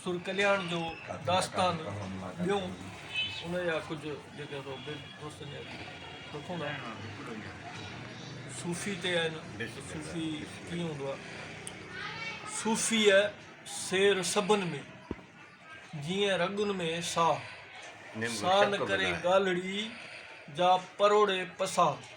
سر ڪلياڻ جو داستان ٻيو ان جا ڪجهه جيڪي دوستن جا ڏکون آهن صوفي تي آهن صوفي ڪيئن هوندو آهي صوفي سير سڀن ۾ جيئن رڳن ۾ ساهه ساهه نه ڪري ڳالهڙي جا پروڙي پساهه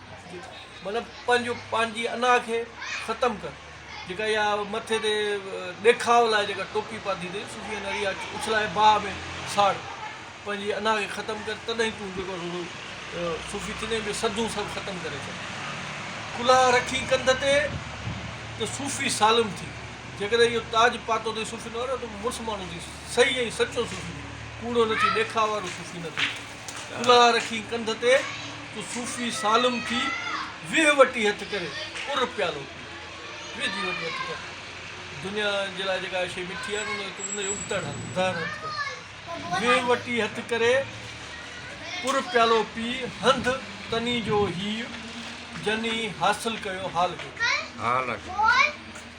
مطلب پنهنجو پنهنجي انا کي ختم ڪر جيڪا اها مٿي تي ڏيکاء لاء جيڪا ٽوپي پاتي اٿئي صوفي انا اها اڇلائي باهه ۾ ساڙ پنهنجي انا کي ختم ڪر تڏهن تون جيڪو سو صوفي ٿيندين جو سڌون سڀ ختم ڪري ڇڏ ڪلها رکي ڪنڌ تي ته صوفي سالم ٿي جيڪڏهن اهو تاج پاتو اٿئي صوفي نو ته مڙس ماڻهو ٿي صحيح ۽ سچو صوفي ٿي ڪوڙو نه ٿي ڏيکاء وارو صوفي نه ٿي ڪلهه رکي ڪنڌ تي تو صوفي سالم ٿي ويهه وٽي هٿ ڪري ڪر پيالو پي ويهه جي وٽي هٿ ڪر دنيا جي لاء جيڪا شيء مٺي آهي نه ان ان جو ابتڙ هل ظاهر هٿ ڪر ويهه وٽي هٿ ڪري ڪر پيالو پي هنڌ تني جو هيء جني حاصل ڪيو حال ڪيو.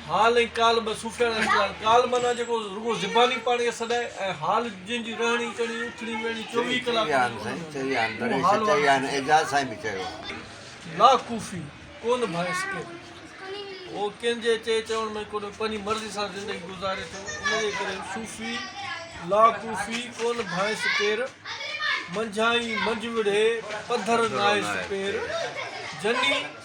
حال ۽ قال ٻه صوفياڻا ريت آهن. قال معنيٰ جيڪو رڳو زباني پاڻي کي سڏائي ۽ حال جنهن جي رهڻي ڪهڻي، اٿڻي ويهڻي چوويهه ڪلاڪ هوندي آهي، اهو حال وارو صوفي. لا ڪوفي، ڪونه ڀانئس ڪير. هو ڪنهن جي چئي چوڻ ۾ ڪونه پنهنجي مرضي سان زندگي گذاري ٿو، ان جي ڪري صوفي، لا ڪوفي، ڪونه ڀانئس ڪير. منجهائين منجهه وڙهي، پڌر ناهي سپير. جني.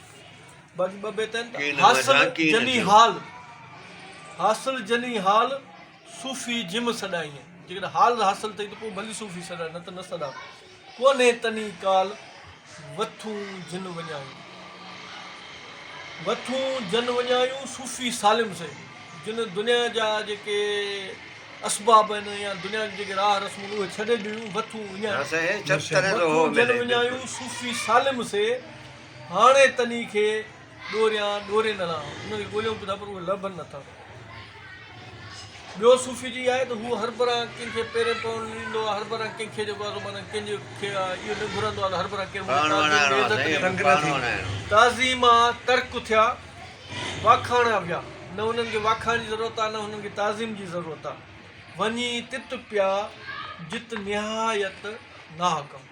باقي ٻه بيت آهن ته حاصل جني حال حاصل جني حال صوفي جم سڏائين جيڪڏهن حال حاصل اٿئي ته پوء ڀلي صوفي سڏا نه ته نه سڏا ڪونهي تني ڪال وٿون جن وڃايون وٿون جن وڃايون صوفي سالم سي جن دنيا جا جيڪي اسباب آهن يا دنيا جي جيڪي راهه رسمون آهن اهي ڇڏي ڏنيون وٿون وڃايون وٿون جن وڃايون صوفي سالم سي هاڻي تني کي ڏوريان ڏوري نه لهان. هن کي ڳوليون به ٿا پر اهي لڀن نه ٿا. ٻيو صوفي چئي آهي ته هو هر برانهه ڪنهن کي پيرين پوڻ نه ڏيندو آهي، هر برانهه ڪنهن کي جيڪو آهي سو مانائين ڪنهن جي کي اهو نه گهرندو آهي ته هر برانهه ڪير منهنجي تعظيم ۾ عزت ڏي. تنگ نه ٿي. تعظيم آ ترڪ ٿيا، واکاڻيا ويا. نه هنن کي واکاڻ جي ضرورت آ نه هنن کي تعظيم جي ضرورت آ. وڃي تت پيا جت نهايت ناحڪم.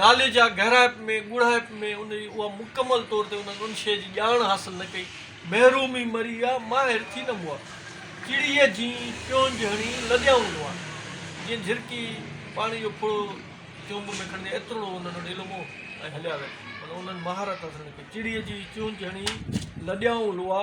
نالي جا گهرائپ ۾ ڳوڙهائپ ۾ ان جي اها مڪمل طور تي انهن ان شيء جي ڄاڻ حاصل نه ڪئي. محرومي مري يا ماهر ٿي نه مئا. چڙيء جيئن چونج هڻي لڏيائون لئا. جيئن جهرڪي پاڻي جو ڦڙو چونب ۾ کڻجي ايتروڙو انهن وٽ علم هو ۽ هليا ويا. پر انهن مهارت حاصل نه ڪئي. چڙيء جيئن چونج هڻي لڏيائون لئا.